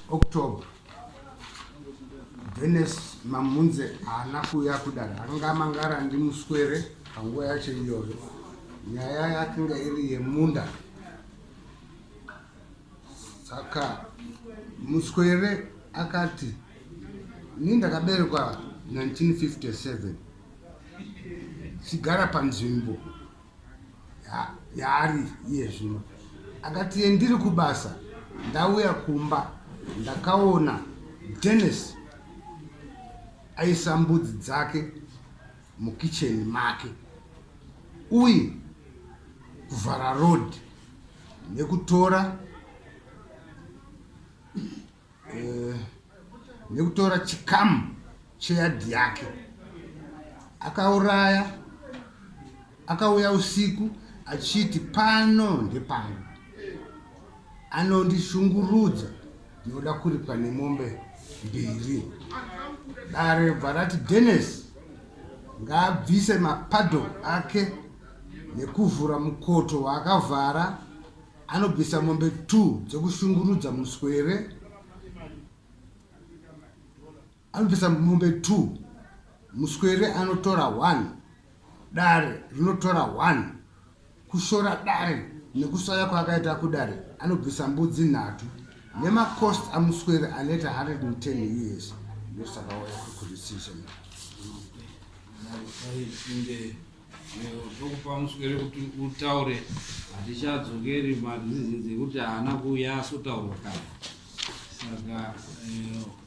October Dennis Mamunze haana kuuya kudare anga mangara ndimuswere panguva yacho iyoyo nyaya yakinga iri yemunda saka muswere akati ni ndakaberekwa 1957 chigara panzvimbo yaari iye zvino akati yendiri kubasa ndauya kumba ndakaona denis aisa mbudzi dzake mukitchen make uye kuvhara road nekutora eh, nekutora chikamu cheyadhi yake akauraya akauya usiku achiti pano ndepano anondishungurudza Ndinoda kuripwa nemombe mbiri. Dare bva rati Dennis ngaabvise mapadho ake nekuvhura mukoto waakavhara anobvisa mombe two dzekushungurudza muswere Anobvisa mombe two, muswere anotora one, dare rinotora one, kushora dare nekusaya kwaakaita kudare anobvisa mbudzi nhatu nemacost amuswere anoita 110 us ndosaka waya kukurisisha tokupa muswere kuti utaure hatichadzokeri mari zizinzi yekuti haana kuuya asotaurwa kana saka eh,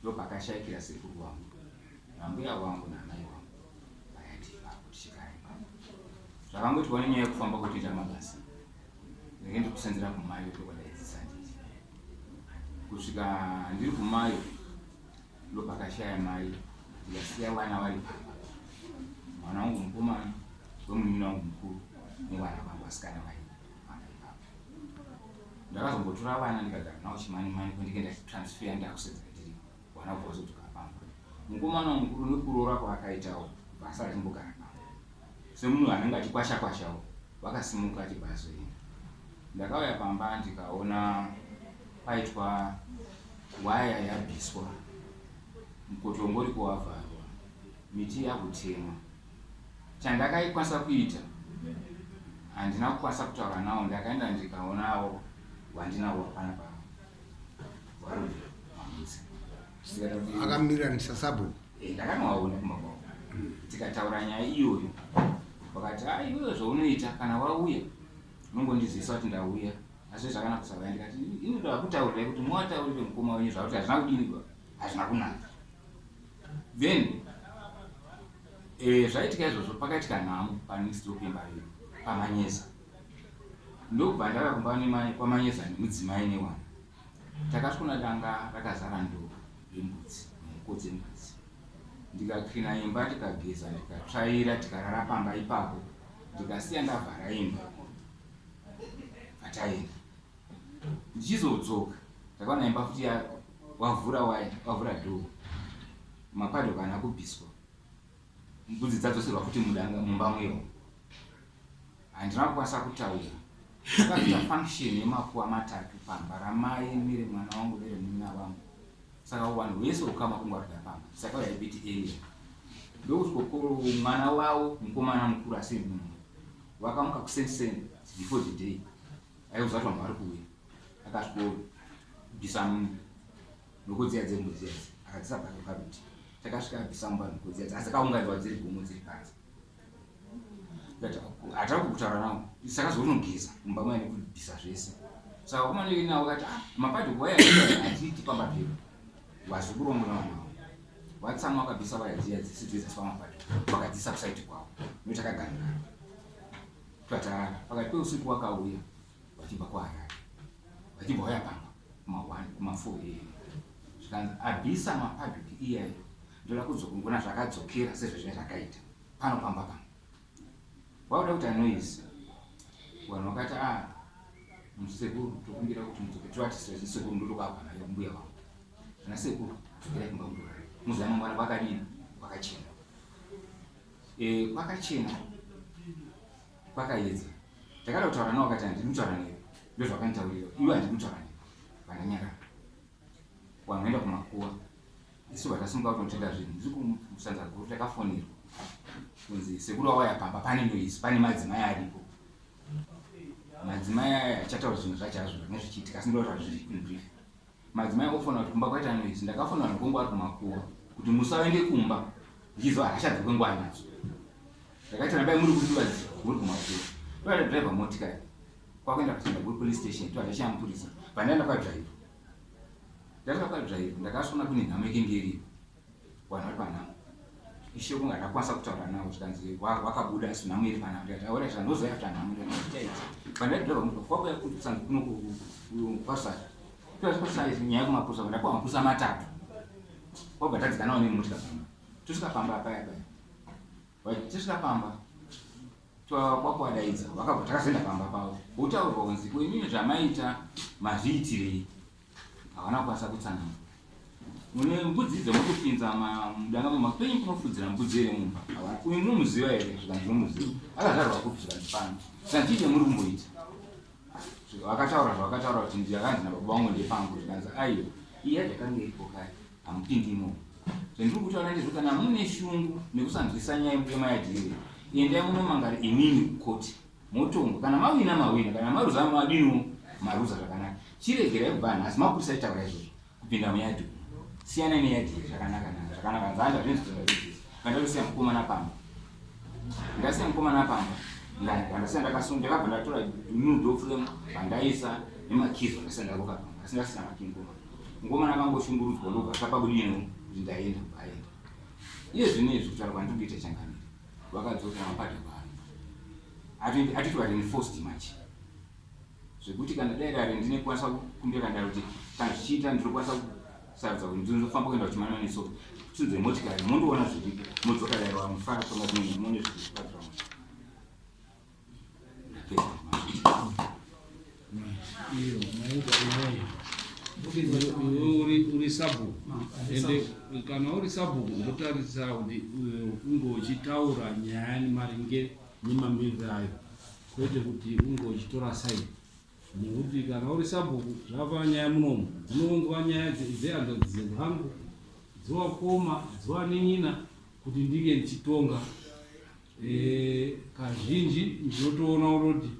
Ndopakashaikira sekuru wangu nambuya wangu namai wangu vayati vakutishikai zvavangoti vane nyaya yekufamba kutoita mabasa ndenge ndiri kusenzera kumayo tokwadaizisa nditi kusvika ndiri kumayo ndopakashaya mai ndikasiya vana vari pamba mwana wangu mukomana wemunini wangu mukuru nevana vangu vasikana vaii ndakazombotora vana ndikagara navo chimani mani kwendike ndachitransfer ndakusedzeka tiri vana kubva vazotuka pamba mukomana mukuru nekuroora kwaakaitawo basa rachimbogara navo semunhu anenge achikwasha kwashawo vakasimuka achibva azoenda ndakauya pamba ndikaona paitwa waya yabviswa mukotongori kuwavharwa miti yakutemwa Chandakaikwanisa kuita handina kukwanisa kutaura nawo ndakaenda ndikaonawo wandinawo hapana pa warume mamuzi zvisingaita kuti akamiranisa sabhuku Eh, ndakanowaona kumba kwavo tikataura nyaya iyoyo vakati a iwewe zvaunoita kana wauya unongondizivisa kuti ndauya asi zvakanaka kusavaya ndikati inoda kutaurirai kuti mwataurire mukoma wenyu zvakuti hazvina kudini baba hazvina kunaka then eh, zvaitika izvozvo pakaitika nhamo panext door pembairi pamanyeza ndokubva ndava kumba nemai kwamanyeza nemudzimai newana takasvona danga rakazara ndoo yembudzi mhuko dzembudzi ndikakrina imba ndikageza ndikatsvaira tikarara pamba ipapo ndikasiya ndavhara imba vataenda ndichizodzoka ndakaona imba futi wavhura waya wavhura dhoo mapado kana akubviswa mbudzi dzadzoserwa futi mudanga mumba mweyo handina kukwanisa kutaura akaita function yemakuwa matatu pamba ramai mire mwana wangu vere munina vangu saka vanhu vese ukama kungwarira pamba saka yaibiti area ndokuti kokoro mwana wavo mukomana mukuru asi munhu vakamuka kusenseni before the day aiuza kuti vanhu vari kuuya akasvikobvisa nhoko dziya dzembuzi yadzi akadzisa pake paruti takasvika abvisa mumba nhoko dziya dzi asi akaunganidzwa dziri gumo dziri panze hatava kukutaura navo saka zvounogeza mumba maya nekubvisa zvese saka kumanei navo kati ah, mapadi kuwaya aziiti pamba pedu vazikurombo navo vatsamu vakabvisa vaya dziya dzisi dzedziswa mapadi vakadzisa kusaiti kwavo notakagangana Twatarana pakati peusiku wakauya vachibva kuHarare vachibva waya pamba kuma1 kuma4 am zvikanzi abisa mapublic iyayo ndoda kudzokungona zvakadzokera sezvezvinge zvakaita pano pamba pano wauda kuti anoise vanhu vakati a ah, musekuru tokumbira kuti mudzoke tivatise zvisekuru ndotokabva nayo mbuya vangu ana sekuru dzokera kumba mudorari muziva mangwana vakadini vakachena Eh, kwakachena kwakayedza ndakada kutaura nawo kati handiri kutaura newe ndozvakanitaurira iwe handiri kutaura newe vandanyarara wanoenda kumakuwa isu vatasimuka kunotenga zvinhu ndiri kumusanza guru takafonirwa kunzi sekuru awaya pamba pane noisi pane madzimai aripo madzimai aya achataura zvinhu zvacho azvo zvinenge zvichiitika asi ndotaura zviri inbrief Madzimai ofona kuti kumba kwaita noise ndakafona vanhu kwangu vari kumakuwa kuti musaende kumba ndichiziva hasha dzekwe nguva nadzo ndakaita nabai muri kuti vazi muri kumakuwa toda driver motikari kwakuenda kuchenda kuri police station toda zvashaya mupurisa vandaenda kwadriver ndakasvika kwadriver ndakasona kune nhamo ikenge iripo Wana kwana. Ishe kunga ndakwanisa kutaura nawo zvikanzi wakabuda asi nhamu iri pana kuti aora izvi andozoya kuti nhamu iri ndaiita ichi. Pandaidira pamuka kwakuya kusa kuno kwasa. Kuya kwasa izi nyaya kumapusa kuti kwa mapusa matatu. Kwabva tadzika nawo nemutya pamba. Tusika pamba paya paya. Wai tusika pamba. Twa kwakwadaidza vakabva takazenda pamba pawo. Utaurwa kunzi kwenyu zvamaita mazviitirei. Havana kukwanisa kutsanana. Mune mbudzi idzo mukupinza mudanga memapenyu kunofudzira mbudzi here mumba? Uyu munomuziva here? Zvika ndinomuziva. Akazvarwa kupi zvika ndipano. Zvika ndiite muri kumboita. Vakataura zvavakataura kuti ndiyakanzi nababa wangu ndepangu zvikanzi aiwa. Iya yakanga iripo kare. Hamupindi imomo. Zvendiri kutaura ndezvo kana mune shungu nekusanzwisa nyaya yemaya dhiri. Endai munomangara imini kukoti. Motongo kana mawina mawina kana maruza madino maruza zvakanaka chiregerai kubva nhasi mapurisa aitaura izvozvo kupinda muyadhi siyanai neyadhi iyi zvakanaka na zvakanaka nzanda zvinzi zvazvidzisa ndandasiya mukomana pamba ndasiya mukomana pamba ndandasiya ndakasunga ndakabva ndatora new door frame vandaisa nemakizi vandasiya ndaruka pamba asi ndasina makini komana mukomana akangoshungurudzwa ndobva zvapabudiyeno kuti ndaenda kubaenda iye zvino izvi kutaura kwandiri kuita changamira vakadzoka mapata pano atiti atiti vari enforced manje zvekuti kana dai dare ndine kwanisa kumbira kana kuti kana zvichiita ndinokwanisa kusarudza kuti ndinofamba kuenda kuchimana neso tsinze motikari mondoona zviri modzoka dare wamufara tonga dzimwe mone zviri pazvamwe uri sabhuku ende kana uri sabhuku ndotarisira kuti unge uchitaura nyaya maringe nemamiriro ayo kwete kuti unge uchitora saidi nekuti kana uri sabhuku zvava nyaya munomu dzinongova nyaya dzehanzvadzi dzenyu hangu dzovakoma dzovanenyina kuti ndinge ndichitonga Kazhinji ndinotoona kutoti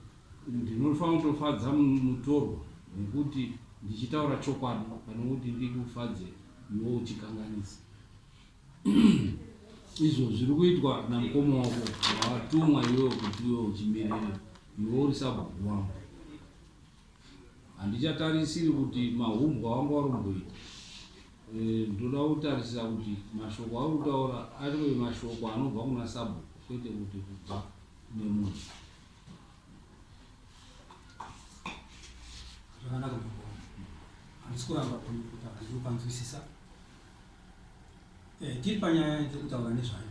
ndinofanira kutofadza mutorwa nekuti ndichitaura chokwadi pane kuti ndikufadze iwe uchikanganisa. Izvo zviri kuitwa namukoma wako wawatumwa iwewe kuti iwe uchimirira iwe uri sabhuku wangu. Handichatarisiri kuti mahumbwa wanga wari kumboita. Eh, ndoda kutarisira kuti mashoko auri kutaura ariwe mashoko anobva kuna sabhuku kwete kuti kubva kune munhu zvakanaka mabhoo handisi kuramba kutaura ndiri kupanzwisisa eh, tiri panyaya ndiri kutaura nezvayo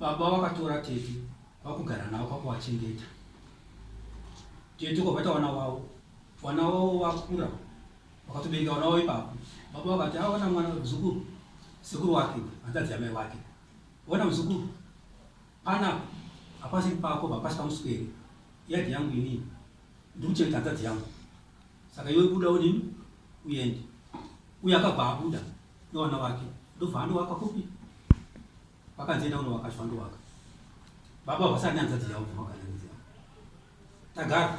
Baba vakatora tete vakugara navo kwakuvachengeta. Tete kwabata vana vavo, vana vavo vakura, vakatobereka vana vavo ipapo. Baba vakati aona mwana muzukuru, sekuru wake hanzadzi yamai wake, ona muzukuru, pana hapasi pako hapasi pamuswere, yadhi yangu inini ndikuchengeta hanzadzi yangu, saka iwe buda udini uende. Uye akabva abuda Iwana wake ndobva andowaka kupi vakanzi enda unowaka zvo andowaka baba vasati nyanzadzi yavo zvavakaanzi yavo tagara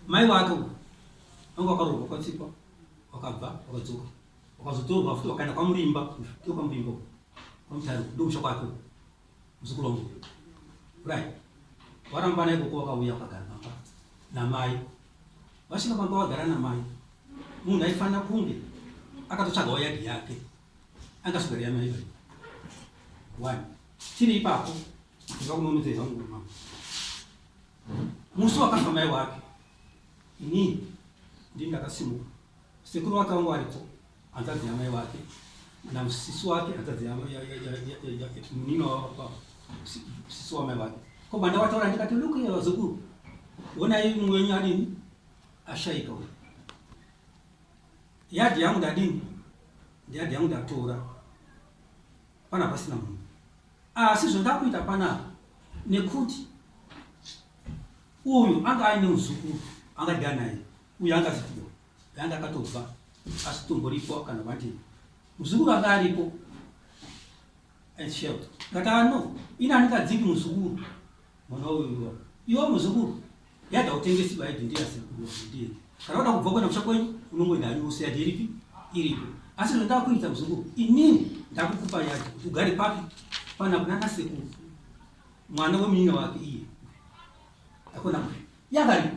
mai wake uko vanga wakarohwa kwatsikwa wakabva wakadzoka wakazotorwa futi wakaenda kwamurimba ndopamurimba kwamutari ndomusha kwake Muzukuru wangu. Right. Warambana ikoko wakauya ukagara pamba namai. Vasvika pamba wagara namai. Munhu aifanira kunge akatotsvagawo yadhi yake. Angaswera yamai iyoyo. One. Chiri ipapo. Ndikuda kunonodzera zvangu mama. Musi wakafa mai wake. Ini ndini ndakasimuka. Sekuru wake wangu aripo. hanzvadzi yamai wake namusisi wake hanzvadzi munino sisi wamai wake ko banda wataura ndikati look here vazukuru honai mumwe wenyu adini ashaika uyu yadhi yangu ndadini ndiyadhi yangu ndatora pana pasina munhu asi zvandakuita panapa nekuti uyu anga aine muzukuru angadya naye uyu angazipiwa Ganda akatobva asi tumbo ripo kana vanti muzukuru anga aripo shelt katano ina anikadziki muzukuru mwana uyu iwo muzukuru yada utengesi baidi ndiye asekuru ndiye kana wada kubva kwenda kusha kwenyu unongoenda hanyu wose yadi iripi iripo asi zvandava kuita muzukuru inini ndakukupa yadi kuti ugare papi pana kunana sekuru mwana wemunyina wake iye akona yagaripo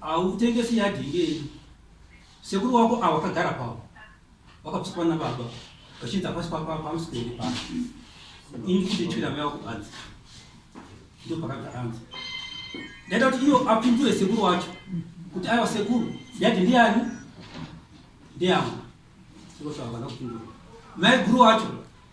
Hautengesi yadhi ngei? Sekuru wako awa kagara pawo. Vakapsikwa na baba. Vachinzi hapasi pa pa pamusi pende pa. Ini kuti chira maya kubanzi. Ndo pakagara anzi. Ndaita kuti iyo apindure sekuru wacho. Kuti aiwa sekuru yadhi ndiyani? Ndiyangu. Sekuru wako anakupindura. Mai guru wacho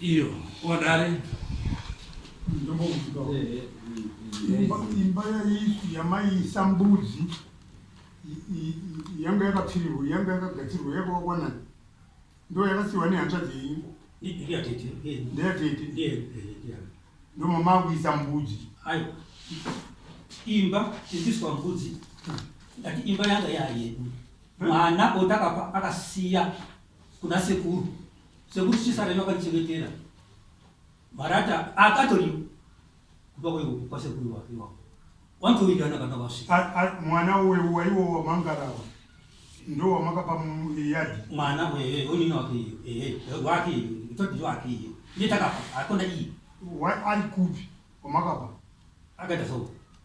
iyo odari imba yamaiisa mbudzi yanga yakapfirirwa yanga yakagadzirwa yakawakwanani ndo yakasiwa nehanzvadzi yenyu ndeyatete ndomamaakuisa mbudzi imba iiswa mbudzi imba yanga yayedu Mwana uyu ndakabva akasiya kuna sekuru sekuru chisarenyo akanichengetera marata akatori kupa kwa sekuru wake iwapo wantowirirana kana vasvika mwana uyu waiwo wamangarawa ndo wamakapa yadi mwana wewe onini wake iyo ehe wake iyo itoti wake iyo ndiye takapa akona iyi ari kupi wamakapa akaita so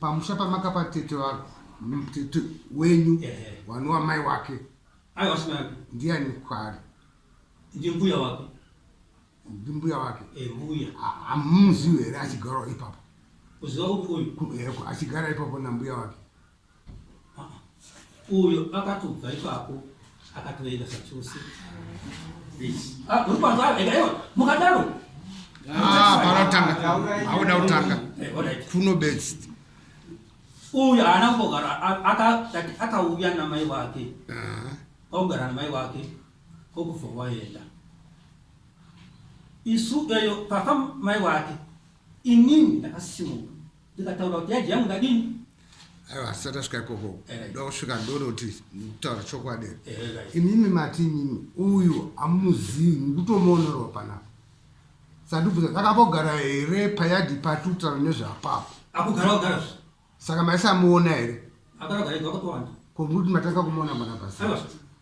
pamusha pamakapa tete vako tete wenyu wanova mai wake ndiani kwaari ndimbuya wake ndimbuya wake eh, mbuya hamuzivi here achigarawo ipapo achigara ipapo nambuya wake uyo akatobva ipapo akatoenda zvachose ah, mukadaro ah, panotanga auda kutanga eh, kuno best uyu haana kumbogara akauya namai wake ah. akugara namai wake kokubva waenda isu eyo papa mai wake inini ndakasimuka ndikataura kuti yaji yangu ndadini aiwa asati asvika ikoko Eh. ndokusvika ndonoti ndikutaura chokwadi Eh, right. imimi mati imimi uyu amuzivi mukutomuonerwa panapa sandibvunza takambogara here payadhi patutaura nezveapapo akugara ogara zve saka maisamuona here akagara ega wakatowanda komuti matanga kumuona panapa aiwa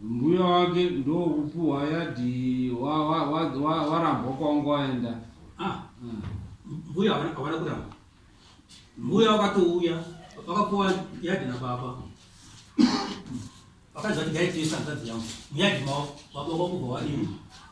Mbuya wake ndokupuhwa yadii warambwa kwanga waenda. Ah, mbuya havana kuramba. Mbuya wakatouya vakapuwa yadhi nababa. Vakaziva kuti gaitesa hanzvadzi yangu. Muyadhi mavo baba vakubva vadii.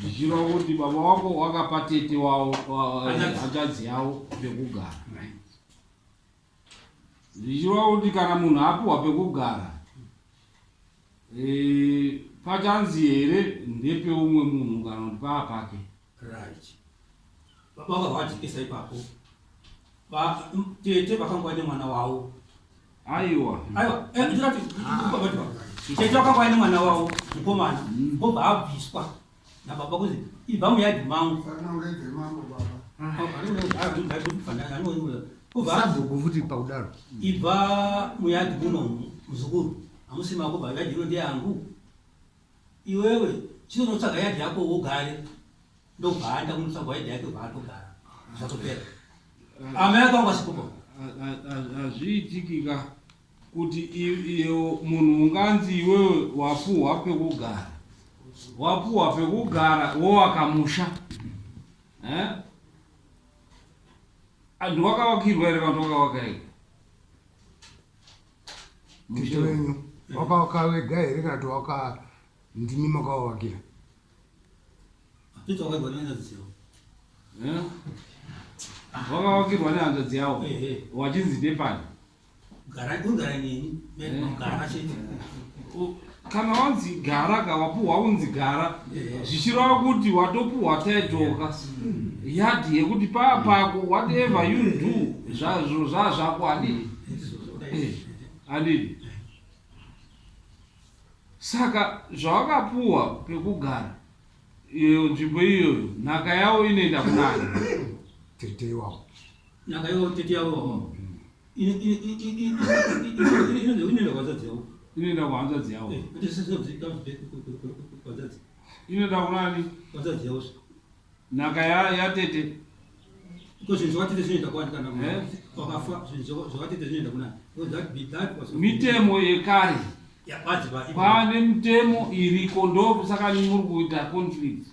zvichireva kuti baba wako wakapa tete wavo hanzvadzi yavo pekugara zvichireva kuti kana munhu apiwa pekugara e, pachanzi here ndepeumwe munhu kana kuti paa pake Right. Baba vakavajekesa ipapo. Ba tete vakangwa nemwana wavo. Aiwa. Aiwa. Eh ndirapi. Baba ah. baba. Tete vakangwa nemwana wavo mukomana. Baba mm. abviswa. Na baba kuzi ibva muyadi mangu. Sana ungeze mangu baba. Ah. Oh, ari ungeze ari ungeze ari ungeze ari ungeze. Sabhuku futi pakudaro. Ibva muyadi muno muzukuru. Amusima kuba yadi ino ndiyangu. Iwewe chino unotsvaga yard yako wogare ndobva aenda kunotsvagwa yard yake bva atogara zvatopera. Amai yako vangu vasipopo. Hazviitikika kuti iyo munhu unganzi iwewe wapuhwa pekugara wapuhwa pekugara wowaka musha eh? andiwakavakirwa here vanhu wakavaka here Tete wenyu wakawakawega here kana kuti waka ndimi makawawakira? Tete wakawakirwa nehanzvadzi yavo. Eh? Wakawakirwa nehanzvadzi yavo eh, eh. wachinzi ndepani? Gara, kungara neni, eh. gara chete. kana wanzi gara ka wapuhwa unzi gara zvichireva kuti watopuhwa title ka yadhi yekuti paa pako whatever you do zvazvo zvaa zvako adii eh, adii saka zvawakapuhwa pekugara iyo nzvimbo iyoyo nhaka yawo inoenda kunani tete iwawo nhaka yawo tete yawo inoenda kuhanzvadzi yavo inoenda kuhanzvadzi yavo inoenda kunani hanzvadzi yavo nhaka yatete mitemo yekare pane mitemo iriko ndokusaka muri kuita conflict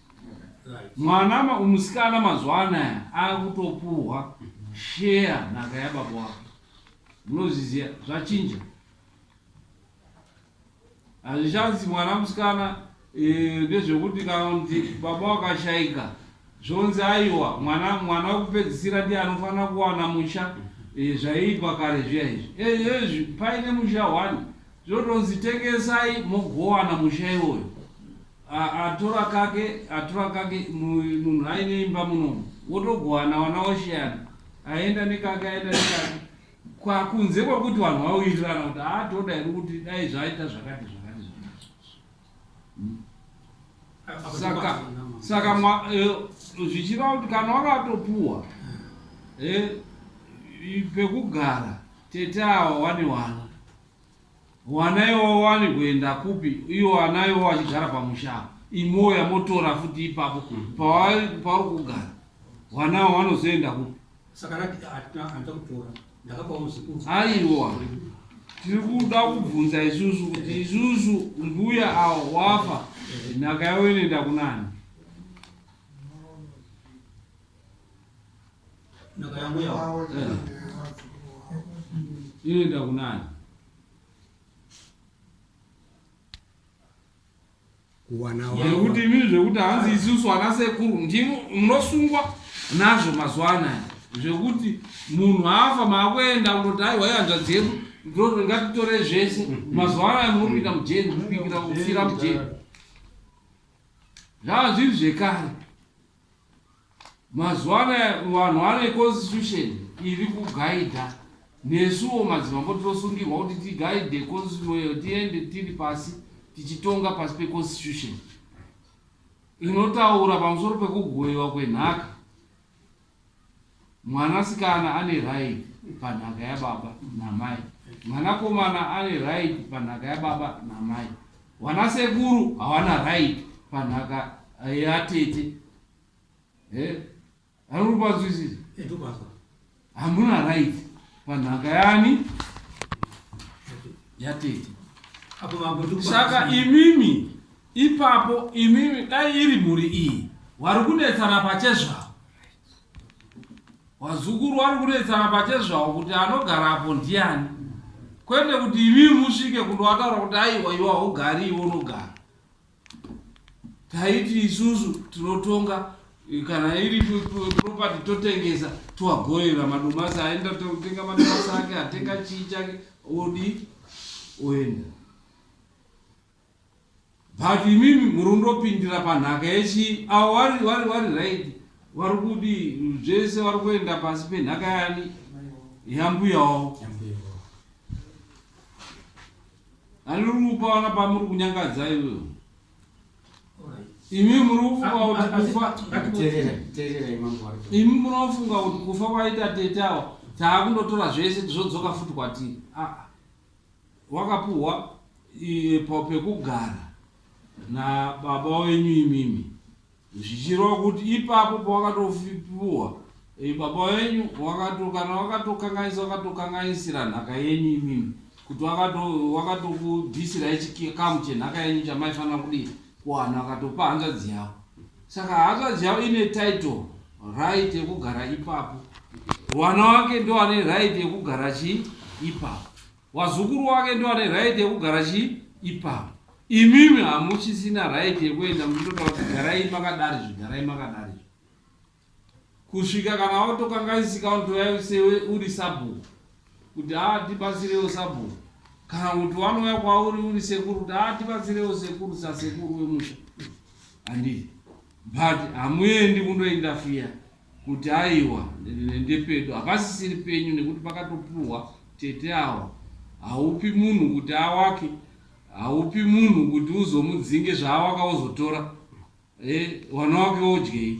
Mwana ma, musikana mazuva anaya akutopuhwa share nhaka yababa wake. Munozviziva zvachinja. Hazvichanzi mwana musikana eh, ndezvekuti kana kuti baba wakashaika zvonzi aiwa mwana mwana wekupedzisira ndiye anofanira kuwana musha eh, zvaiitwa kare zviya izvi eh, ezvi paine musha one zvotonzi tengesai mogowana musha iwoyo Atora kake atora kake munhu aine imba munomu wotogowana wana woshiyana aenda nekake aenda nekake kwakunze kwakuti vanhu vauirirana kuti aatoda ah, iri kuti dai zvaita zvakati zvakati zvakati saka saka eh, zvichireva kuti kana wakatopuwa eh, pekugara tete awa wane wana Wana iwawo wani kuenda kupi iwo ana iwawo achigara pamusha apa imowo yamotora futi ipapo pawairi pauri kugara wana awo wanozoenda kupi Saka rati hatina hanza kutora. Ndakapa muzukuru. aiwa tiri kuda kubvunza isusu kuti isusu mbuya awo wafa nhaka yavo inoenda kunani inoenda kunani nekuti imii zvekuti hanzi isusu ana sekuru ndimo munosungwa nazvo mazuva anaya zvekuti munhu afa maakuenda kunoti aiwa ihanzvadzi yedu ngatitore zvese mm. mazuva anaya munopinda mujeri mubikira kufira mujeri zvava zviri zvekare Mazuva anaya vanhu vane constitution iri kugaidha nesuwo madzimambo tinosungirwa kuti tigaidhe constitution iyo tiende tiri pasi tichitonga pasi peconstitution inotaura pamusoro pekugoiwa kwenhaka Mwana sikana ane right panhaka yababa namai. Mwana komana ane right panhaka yababa namai. Wana sekuru hawana right panhaka yatete. Eh? Aruri kwanzwisisa? Etukwazwa. Eh, Hamuna right panhaka yani yatete. Saka imimi ipapo imimi dai iri mhuri iyi wari kunetsana pachezvavo Vazukuru vari kunetsana pachezvawo kuti anogara apo ndiani, kwete kuti imi musvike kundovataura kuti aiwa iwa hugari iwo unogara. Taiti isusu tinotonga kana iri property totengesa toagoyera madomasi aenda totenga madomasi ake atenga chii chake odi oenda But imimi murundopindira panhaka yechii avo vari vari vari right vari kudi zvese vari kuenda pasi penhaka yani yambuya wavo ani uri kupa vana pamuri kunyangadza ivo imi muri kufunga kuti kufa imi munofunga kuti kufa kwaita tete avo taakundotora zvese tizodzoka futi kwatiri aa ah, ah. Wakapuhwa pekugara nababa wenyu imimi zvichireva kuti ipapo pawakatopuhwa baba wenyu wakato kana wakatokanganisa wakatokanganisira nhaka yenyu imimi kuti wakatokubvisirai chikamu chenhaka yenyu chamaifanira kudii kuwana wakatopa hanzvadzi yavo Saka hanzvadzi yavo ine title right yekugara ipapo, mwana wake ndo ane right yekugara chii ipapo, wazukuru wake ndo ane right yekugara chii ipapo. Imimi hamuchisina right yekuenda muchitotaura kuti garai makadari zvigarai makadari. Kusvika kana watokangaisika unotoya sewe uri sabhuku kuti haa tibatsirewo sabhuku kana kuti wanouya kwauri uri sekuru kuti haa tibatsirewo sekuru sasekuru wemusha handii but hamuendi kundoindafiya kuti aiwa ndepedu hapasisiri penyu nekuti pakatopuhwa tete awa haupi munhu kuti awake haupi munhu kuti uzomudzinge zvaawaka wozotora e, eh, wana wake wodyei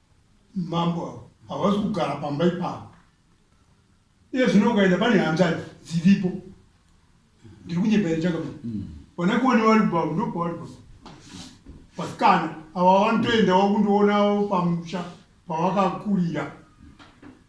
Mambo avo havasi kugara pamba ipapo. Iye zvino ukaenda pane hanzvadzi dziripo. Ndiri kunyepa here chakapa. Mm. Vana kuone vari bavo ndo pavari bavo. Vasikana ava vanotoendawo kundiona pamusha pavakakurira.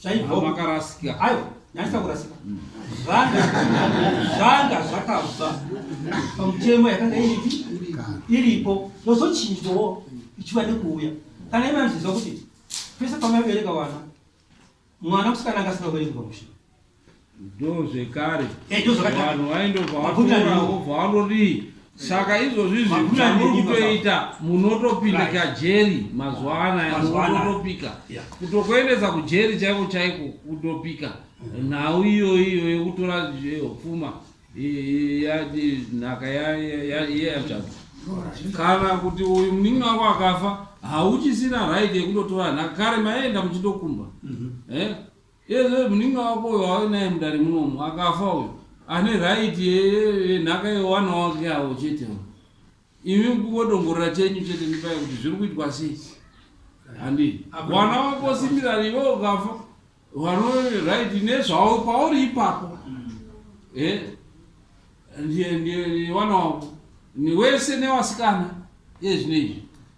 Zvaibva makarasika. Ayo, nyanisa kurasika. Mm. Zvanga zvanga zvakabva pamutemo yakanga iripi iripo yozochinjwawo ichiva nekuuya. Kana ivanzizwa kuti pese pamabereka vana mwana musikana angasina kubereka pamusha. ndozvekare eh, vanhu vaindobva vatora vobva vanorii saka izvozvi zvamuri kutoita munotopinda kajeri mazuva anaya munotopika kutokuendesa kujeri chaiko chaiko kutopika mm-hmm. nhau iyoyi iyo yekutora pfuma nhaka yeyachata kana kuti uyu muningi wako akafa hauchisina right yekutotora nhaka kare maienda muchitokumba mm-hmm. eh? Yezve munin'ina wako uyo wave naye mudare munomu akafa uyo ane right yenhaka yewana wake avo chete imi kungodongorera chenyu chete ndipaya kuti zviri kuitwa sei handi wana wako simirani iwe ukafa wano right nezvavo pauri ipapo e ndiye ndiye wana wako niwese newasikana ezvine izvi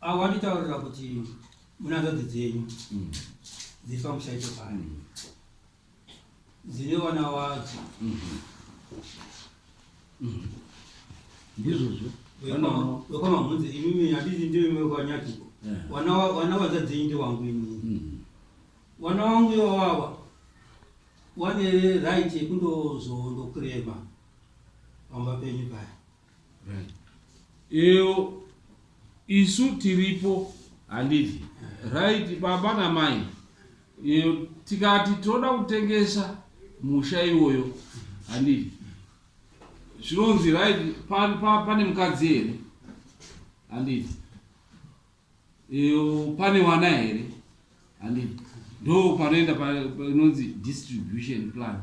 Avo vanditaurira kuti munanzvadzi dzenyu mm. dziri pamushaito pano mm. dzine vana vadzo mm-hmm. mm-hmm. ndizvozvo wekwamamhunzi imimi handiti ndiyo imwe kwanyakiko eh. vana vanza dzenyu ndewangu imimi mm-hmm. vana wangu iwawawa wane right yekundozoondokurema pamba penyu paya Eyo isu tiripo handiti right baba namai Eyo tikati tinoda kutengesa musha iwoyo handiti zvinonzi right pa- pa- pane mukadzi here handiti Eyo pane wana here handiti ndo panoenda pa- pa- inonzi distribution plan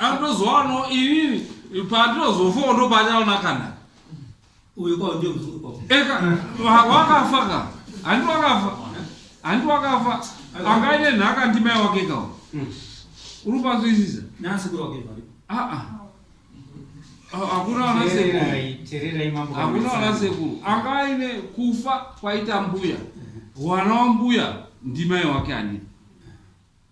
anotozowano inini pandinozofawo ndopanyaona kana uyu kwao ndio mzungu kwao eka wa- wakafa ka handi wakafa handi wakafa angaine nhaka ndimai wake kawo uri panzwisisa nasi kuri wake vari aa Ah, hakuna wana sekuru tererai tererai mambo hakuna wana sekuru angaine kufa kwaita mbuya wana wambuya ndimai wake anipa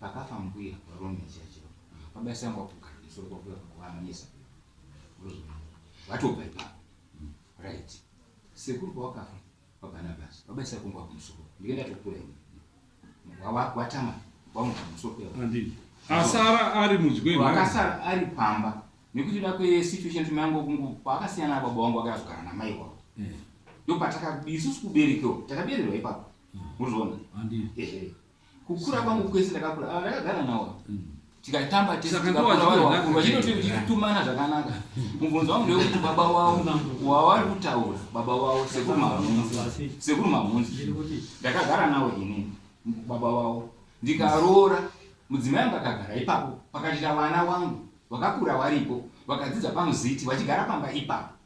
Pakafa mbuya varume church pabasa yangu wakugara musoro kwakuya kwakuamanyisa watobva ipapo right sekuru kwawakafa kwabanabas pabasa yako ngwakumusoro ndike ndatokura ini watama wamuka musoro asara ari mudyi wakasara ari pamba nekuti da kwesituation timango kungu kwaakasiyana baba wangu akazogara namai wavo hmm. ndopataka isusu kuberekewo takabererwa ipapo hmm. mozviona ehe kukura kwangu kwese ndakakura ava ah, ndakagara nawo mm. tikatamba tesvachitotumana zvakanaka mubvunzo wangu ndewekuti baba wavo wavari kutaura baba wavo sekuru mahunzi sekuru mahunzi ndakagara nawo ini baba wavo ndikaroora mudzimai angu akagara ipapo pakachita vana wangu vakakura varipo vakadzidza pamuziti vachigara pamba ipapo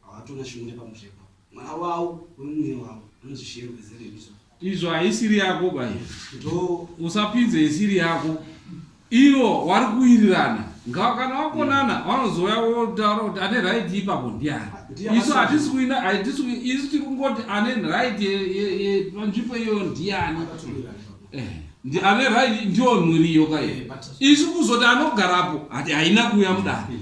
Hawatona shungu nepamusha ipapo. Mwana wawo wemunyiri wavo anonzi Shero ezere izvo. Izvo haisiri yako bayo. Ndoo. Usapinze isiri yako. Ivo wari kuwirirana. Ngawa kana wakonana mm. vanozouya wotaura kuti ane right ipapo ndiani. Ah, Isu hatisi kuina hatisi isu tiri kungoti ane right yepanzvimbo iyoyo ndiani. ndi ane right ndiwo muriyo kaye eh, isu kuzoti anogarapo hati haina kuuya mudare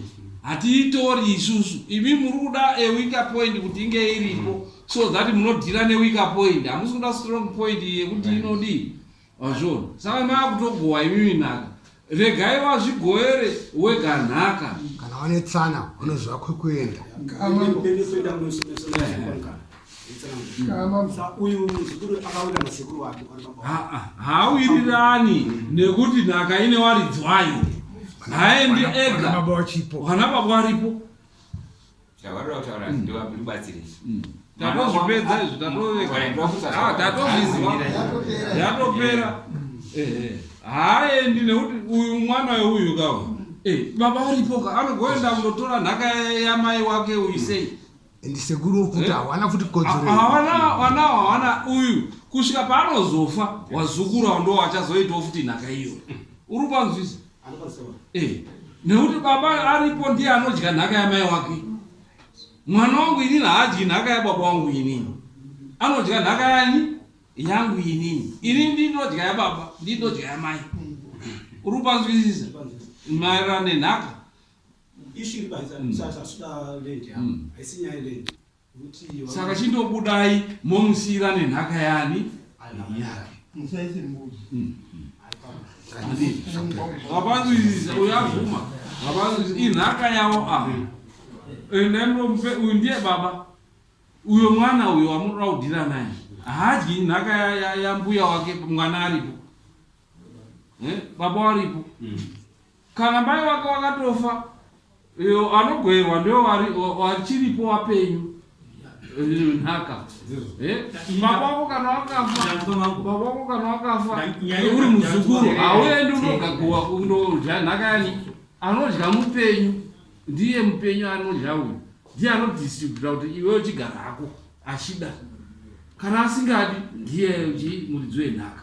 hatiitori isusu imi muri kuda a weaker point kuti inge iripo so that munodhira neweaker point hamusi kuda strong point yekuti inodii wazvona saka maakutogowa imimi naka Regai vazvigoere wega nhaka. Kana vane tsana vanoziva kwekuenda. Hauirirani nekuti nhaka ine waridzi wayo. Haendi ega. Vana baba varipo. Zvavanoda kutaura mm. ndiwa ndibatsire izvi. Mm. Tatozvipedza izvi tatoveka. Ah tatozviziva. Yatopera. Eh eh. Haaendi nekuti uyu mwana weuyu kawo. Eh baba varipo ka anogoenda kundotora nhaka yamai wake uyu sei? Ndisekuru okuti eh? hawana futi kodzero. Ah, hawana hawana hawana uyu kusvika paanozofa wazukuru ndo wachazoitawo futi nhaka iyo. Uri panzwisa. Eh, nekuti baba aripo ndiye anodya nhaka yamai wake mwana wangu inini haadyi nhaka yababa wangu inini anodya nhaka yani yangu inini inini ndinodya yababa ndinodya yamai uri kupanzwisisa maererano nenhaka ishu iri panzi mm. sasa suda land yavo mm. haisi nyaya land saka chindobudai momusiyirane nhaka yani yake vapanzwisisa uyo avuma vapanzwisisa inhaka yavo ava ende mupe uyu ndiye baba uyo mwana uyo wamunoda kudhira naye haadyi nhaka yambuya wake mwana aripo eh, baba waripo mm. Kana mai vake vakatofa anogoerwa ndivo vachiripo vapenyu nhaka baba vako kana vakafababa vako kana vakafa uri muzukuru hauendi unogagowa kundodya nhaka yani anodya mupenyu ndiye mupenyu anodya uyu ndiye anodistributa kuti iwe uchigara hako achida kana asingadi ndiye muridzi wenhaka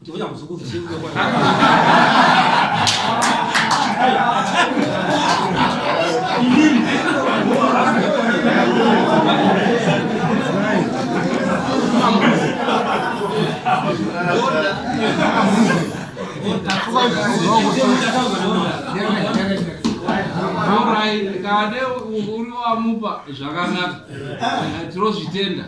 Ndivuya muzukuru zvisinga kwa. Kade uri wamupa zvakanaka tinozvitenda.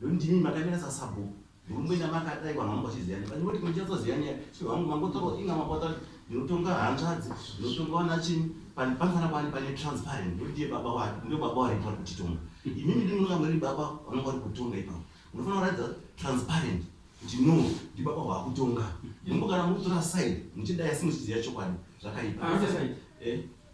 Ndimi makamira sasabhuku ndikumboita makadai vanhu vangu vachiziva ne vanoti muchazoziva nyaya so vangu vangotora inga mabota ndinotonga hanzvadzi ndinotonga vana chini panofana kwani pane transparent ndodiye baba wake ndo baba wari vari kutitonga imimi ndi munonga muri baba vanonga vari kutonga ipapo munofanira kuratidza transparent kuti no ndi baba waakutonga imbo kana mukutora side muchidai asi muchiziva chokwadi zvakaipa eh?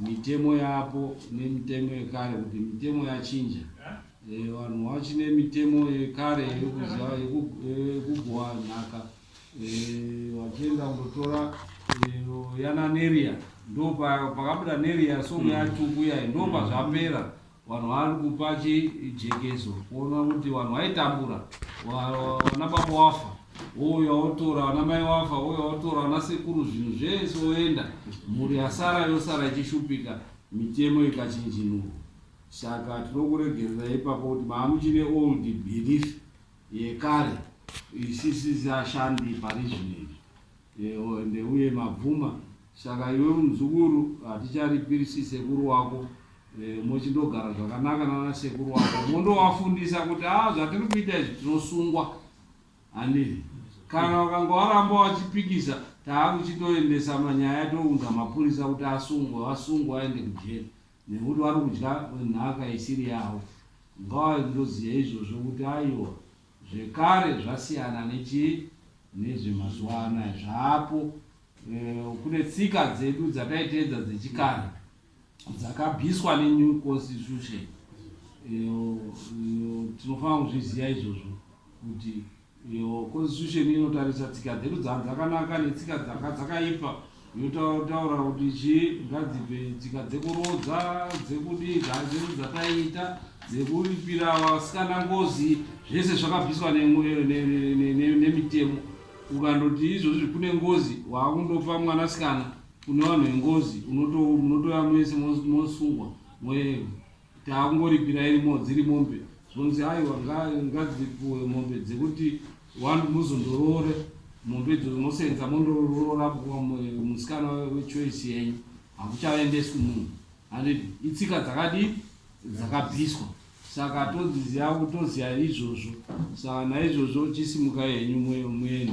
Mitemo yapo nemitemo yekare kuti mitemo yachinja eh, vanhu vachine mitemo yekare yekuziva yekugowa eh, nhaka eh, vachienda kundotora yana neria ndo pakabuda neria song mm. yatukuya ndo pazvapera Vanhu vari kupa chijekeso kuona kuti vanhu vaitambura vana baba wafa wouya wotora vana mai wafa wouya wotora vana sekuru zvinhu zvese woenda mhuri yasara yosara ichishupika mitemo ikachinjinurwa saka tinokuregerera ipapo kuti maamuchine old belief yekare isisizi ashandi parizvinezvi ende uye mabvuma Saka iwe muzukuru haticharipirisi sekuru wako eh, mochindogara zvakanaka nana sekuru wako mondovafundisa kuti a ah, zvatiri kuita izvi tinosungwa handii kana vakanga varamba vachipikisa taakuchitoendesa manyaya tounza mapurisa kuti asungwe vasungwe vaende kujeri nekuti vari kudya nhaka isiri yavo ngavandoziva izvozvo kuti aiwa zvekare zvasiyana nechii nezvemazuva anaya zvaapo Eh, kune tsika dzedu dzataiteedza dzechikare dzakabviswa nenew constitution eh, tinofanira kuzviziva izvozvo kuti eh, constitution inotarisa tsika dzedu dzanhu dzakanaka netsika dzanga dzakaipa yotaura kuti chi ngadzipe tsika dzekurodza dzekudii dhaa dzedu dzataiita dzekuripira vasikana ngozi zvese zvakabviswa nemitemo ukandoti izvozvi kune ngozi waakundofa mwanasikana kune vanhu vengozi munotouya mese mosungwa moyeva taakungoripira irimo dziri mombe zvonzi aiwa ngadzipuwe mombe dzekuti wani muzondoroore mombe idzodzo mosenza mondoroora musikana wechoice yenyu hakuchavendeswi munhu handiti itsika dzakadii dzakabviswa Saka todziziva kutoziva izvozvo. Saka naizvozvo chisimukai henyu muende.